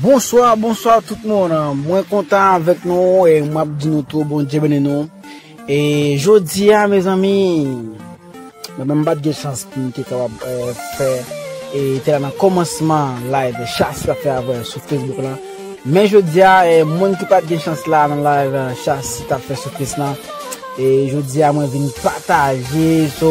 Bonswa bonswa tout moun mwen kontan avèk nou e map di nou tou Bondye beni nou e jodia mezanmi mwen menm mpat gen chans poum te kapab fè e te la nan kòmansman live chas la fè avè sou Facebook lan men jodia moun ki pat gen chans la nan live chas tap fè sou Face lan e jodia mwen vin pataje so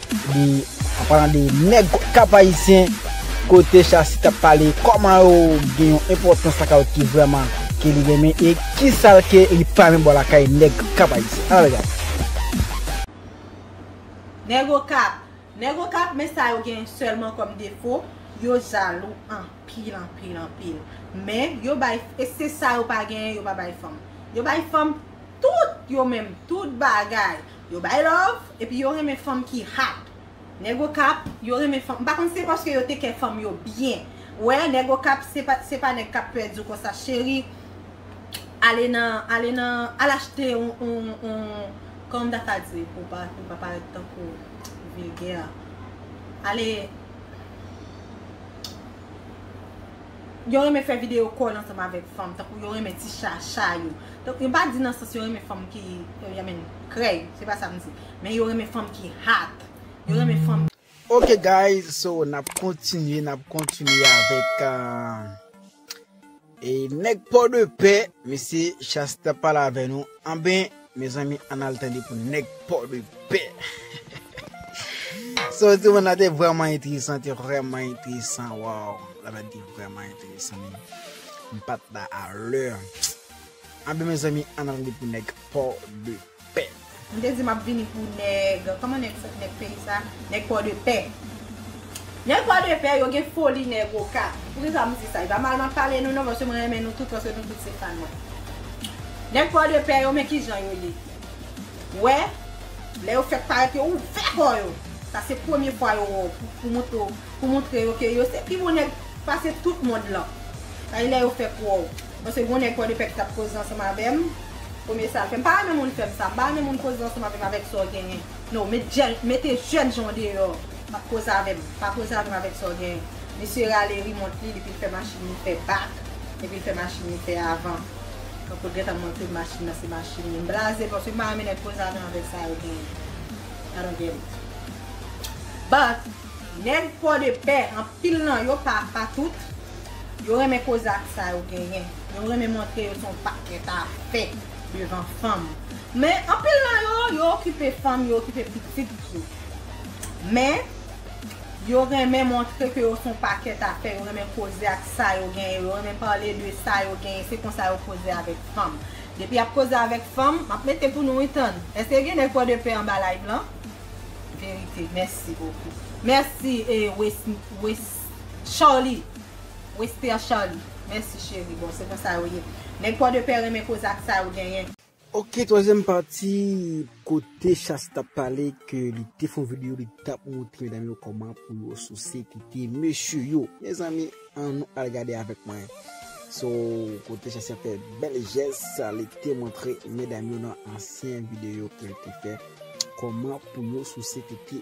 De an palan de nèg kap ayisyen kote Shassy tap pale kòman yo gen yon enpòtans lakay yo ki vrèman ke li renmen e kisal ke li pa renmen bò lakay nèg kap ayisyen ann al gade. Nèg okap Nèg okap men sa yo gen sèlman kòm defo yo jalou anpil anpil anpil men yo bay e se sa yo pa genyen yo pa bay fanm yo bay fanm tout yo menm tout bagay Yo bay love epi yo renmen fanm ki hot nèg okap yo renmen fanm m pa konn se paske yo tekè fanm yo byen wè nèg okap se pa nèg kap pè diw konsa cheri ale nan ale nan al achte yon yon kòman m ta ka di pou m pa parèt tankou vilgè ale. Yo renmen fè video kòn ansanm avèk fanm, tankou yo renmen ti chacha yo. M pa di nan sans yo renmen fanm ki I mean krèy, se pa sa m di. Men yo renmen fanm ki hot. Yo renmen fanm. Ok guys, so n ap kontinye, n ap kontinye avèk nèg Pòdepè, mesye Shasta pale avè nou. Anben. Mezanmi ann al tande pou nèg port de paix sa yo te vann la te vrèman enteresan te vrèman enteresan waww la bèt te vrèman enteresan men m pat la a lè anben mezanmi ann al tande pou nèg port de paix. M te di map vini pou nèg, kòman nèg sa, nèg peyi sa, nèg port de paix. Nèg pwa de pè yo gen foli nèg oka. Poukisa m di sa? E pa mal m ap pale nou non paske mwen renmen nou tout paske nou tout se fan mwen. Nèg pwa de pè yo men kijan yo ye. Wè, lè yo fèk parèt yo ouvè kò yo. Sa se premye fwa yo wè w pou montre w, pou montre yo ke yo se pi bon nèg pase tout mond lan. Sa se lè yo fèk wè w. Paske gon nèg pwa de pè ki t ap koze ansanm avè m, premye sa l fè. M pa renmen moun fè m sa. M pa renmen moun koze ansanm avè m avèk sa w genyen. No met jèn mete jèn jan w deyò map koze avè m pa koze avè m avèk sa w genyen misye rale rimont li epi l fè machin li fè bak epi l fè machin li fè avan tankou l gentan montre m machin nan se machin li m blaze paske m pa renmen nèg koze avè m avèk sa yo genyen I don't get it but nèg pòdepè anpil nan yo pa pa tout yo renmen koze ak sa yo genyen yo renmen montre yo se yon pakèt afè. devan fanm men anpil nan yo yo okipe fanm yo okipe pitit tou men yo renmen montre ke yo son pakèt afè yo renmen koze ak sa yo genyen yo renmen pale de sa yo genyen se konsa yo koze avèk fanm depi yap koze avèk fanm map mete pou nou wi tann eske gen nèg pò de pè anba live lan verite mèsi bokou mèsi e wesn wesn chawly. Wester Charly Mèsi cheri bon se konsa yo ye nèg port de paix renmen koze ak sa yo genyen. Ok twazyèm pati kote Chaste tap pale ke li te fon video li tap moutre medam yo kòman pou yo souse tete mesye yo mezanmi an nou al gade avèk mwen so kote Chaste ap fè bèl jès sa li te moutre medam yo nan ansyen video ke li te fè kòman pou yo souse tete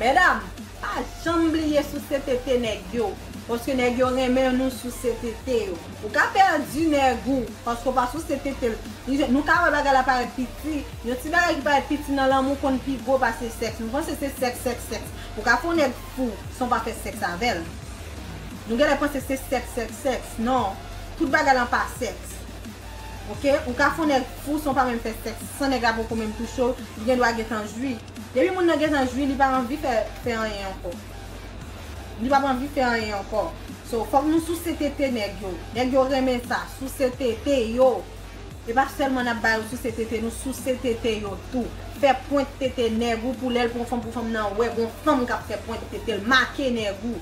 Medam pa janm bliye souse tete nèg yo paske nèg yo renmen nou souse tete yo. Ou ka pèdi nèg ou paske ou pa souse tete l. Nou ka wè bagay la parèt piti, yon ti bagay ki parèt piti nan lanmou konn pi gwo pase sèks. Nou panse se sèks, sèks, sèks. Ou ka fè yon nèg fou san w pa fè sèks avè l. Nou genlè panse se sèks, sèks, sèks. Non, tout bagay lan pa sèks. Ok, ou ka fè yon nèg fou san w pa menm fè sèks, san nèg la poko menm touche w, li gendwa gentan jwi. Depi moun nan gentan jwi li pa anvi fè fè anyen ankò li pap anvi fè anyen ankò so fòk nou souse tete nèg yo nèg yo renmen sa souse tete yo e pa sèlman nap ba yo souse tete nou souse tete yo tou fè pwent tete nèg ou pou lèl pran fanm pou fanm nan wè gon fanm kap fè pwent tetel make nèg ou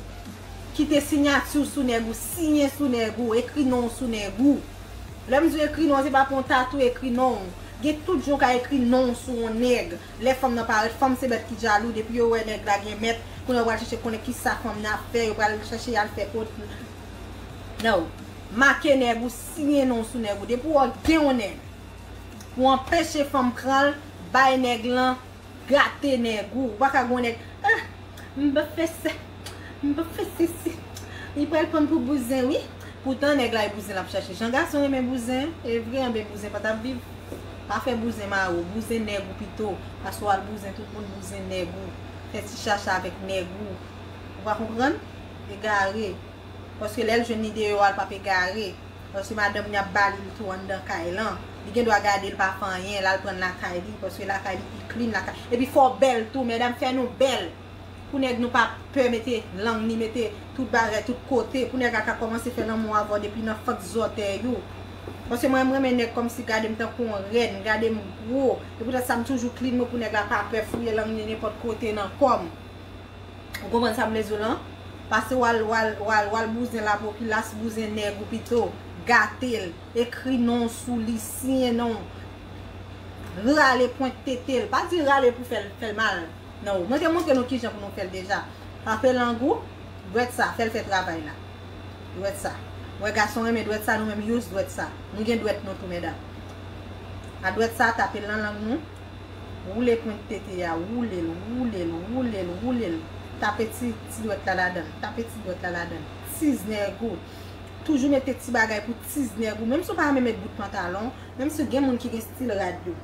kite sinyati w sou nèg ou siyen sou nèg ou ekri non w sou nèg ou lèm di w ekri non w se pa pran w tatouye ekri non w. Gen tout jan w ka ekri non w sou on nèg. Lè fanm nan parèt, fanm se bèt ki jalou, depi yo wè nèg la gen mèt, kounye a yo pral chèche konnen kisa fanm nan ap fè, yo pral chèche y al fè kot l. No. Make nèg ou, siyen non w sou nèg ou. Depi w wè w gen on nèg, pou anpeche fanm pran l, bay nèg lan gate nèg ou pa ka g'on nèg ah m pap fè sa m pap fè sesi li pral pranm pou bouzen wi poutan nèg la e bouzen lap chache jan gason renmen bouzen evre anben bouzen pa tap viv pa fè bouzen mari w bouzen nèg ou pito pase w al bouzen tout moun bouzen nèg ou fè ti chacha avèk nèg ou ou pa konprann egare paske lèl jwenn ni deyò a l pap egare. Paske madanm li ap ba li l tou anndan kay lan. Li gen dwa gade l pa fè anyen, l al pran l lakay li, paske lakay li pi clean lakay li. Epi fò w bèl tou, medam fè nou bèl pou nèg nou pa pè mete lang ni mete tout bagay tout kote, pou nèg la ka kòmanse fè lanmou avè w depi nan fant zòtèy ou. Paske mwen m renmen nèg kòmsi gade m tankou yon rèn, gade m gwo, se poutèt sa m toujou clean mwen pou nèg la pa pè fouye lang li nenpòt kote nan kò m. Ou konprann sa m vle di w lan? Pase w al w al w al w al bouzen lapopilas, bouzen nèg ou pito, gate l, ekri non w sou li, siyen non w, rale pwent tete l, pa di rale pou fè l fè l mal nan ou. Mwen te montre nou kijan pou nou fè l deja. Pafe lang ou, dwèt sa, fè l fè travay la. Dwèt sa. Ou wè gason renmen dwèt sa, nou menm use dwèt sa. Nou gen dwèt nou tou medam. A dwèt sa, tape l nan lang nou. Woule pwent tete a, woule l, woule l, woule l, woule l. Tape ti ti dwèt la ladan l, tape ti dwèt la ladan l. Tiznèg ou, toujou mete ti bagay pou tiznèg ou, menm si w pa renmen met bout pantalon, menm si gen moun ki gen stil rad yo.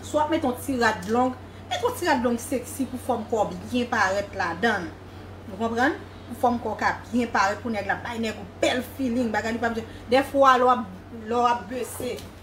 Si w ap mete yon ti rad long, mete yon ti rad long seksi pou fòm kò w byen parèt ladan l. Ou konprann? Pou fòm kò w ka byen parèt, pou nèg la bay nèg ou bèl filing, bagay li pa bzwen. Dèfwa lè w ap, lè w ap bese,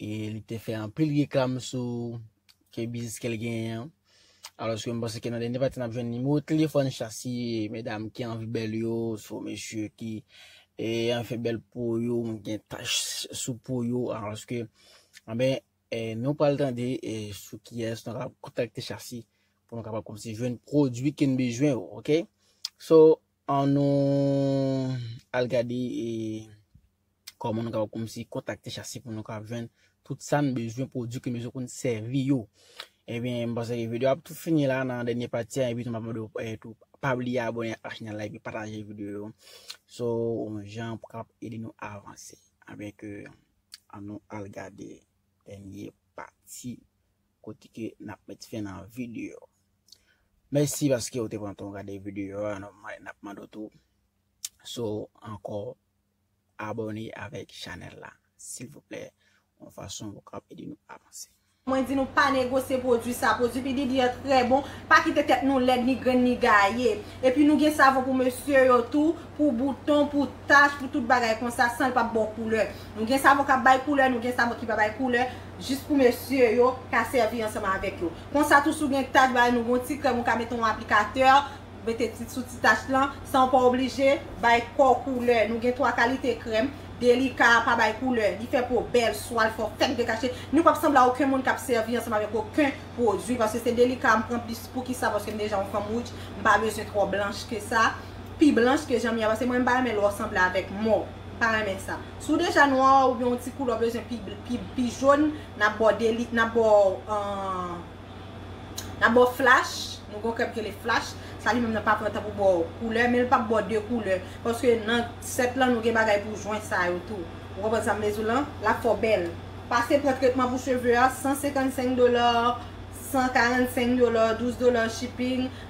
E li te fè anpil reklam sou ke biznis ke l genyen an. Alòske m panse ke nan dènye pati n ap jwenn nimewo telefòn Shassy, medam ki anvi bèl yo, swa mesye ki anvi fè bèl po yo, gen tach sou po yo. Alòske, anben, nou pral tande sou kiyès nou kapab kontakte Shassy pou nou kapab kòmanse jwenn pwodui ke n bezwen yo, ok? So, An nou al gade e kòman nou kapab kòmsi kontakte chasi pou nou kapab jwenn tout sa n bezwen pwodui ke n bezwen pou n sèvi yo. Ebyen m panse ke videyo a ap tou fini la nan dènye pati a epi tou m ap mande w tou pa bliye abòne ak chanèl la epi pataje videyo yo so on jan pou kapab ede nou avanse. Ebyen ke an nou al gade dènye pati Kote ke nap met fen nan video. Mèsi paske ou te pran tan gade video a nap mande ou tou si w anko abone avèk chanèl la silvouplè yon fason pou kap ede nou avanse. Mwen di nou pa negosye pwodwi sa, pwodwi P. Diddy an trè bon, pa kite tèt nou lèd ni grenn ni gaye. Epi nou gen savon pou mesye yo tou, pou bouton, pou tach, pou tout bagay konsa san l pap ba w koulè. Nou gen savon kap bay koulè, nou gen savon ki pa bay koulè, jis pou mesye yo ka sèvi ansanm avèk yo. Konsa tou si w gen tach bay nou gon ti krèm ou ka mete yon aplikatè, mete sou ti tach lan, san w pa oblije bay kò w koulè. Nou gen 3 kalite krèm, Delica a pa bay koulè, li fè po bèl, swa l fò fèk dekache, ni w pap sanble a oken moun k ap sèvi ansanm avèk oken pwodui, paske se Delica a m pran plis, poukisa, paske m deja yon fanm wouj, m pa bezwen twò blanch ke sa, pi blanch ke jan m ye a, paske mwen m pa renmen lò w sanble avèk mò, m pa renmen sa. Si w deja nwa oubyen yon ti koulè w bezwen pi jòn, n ap ba w flash, nou gen yon krèm ki rele flash, sa li menm nan pa pran tan pou ba w koulè, men l p ap ba w de koulè, paske nan sèt lan nou gen bagay pou jwen sa yo tou. Ou konprann sa m vle di w lan? L ap fè w bèl. Pase pran tretman pou cheve a, 155 dola, 145 dola, 12 dola shipping.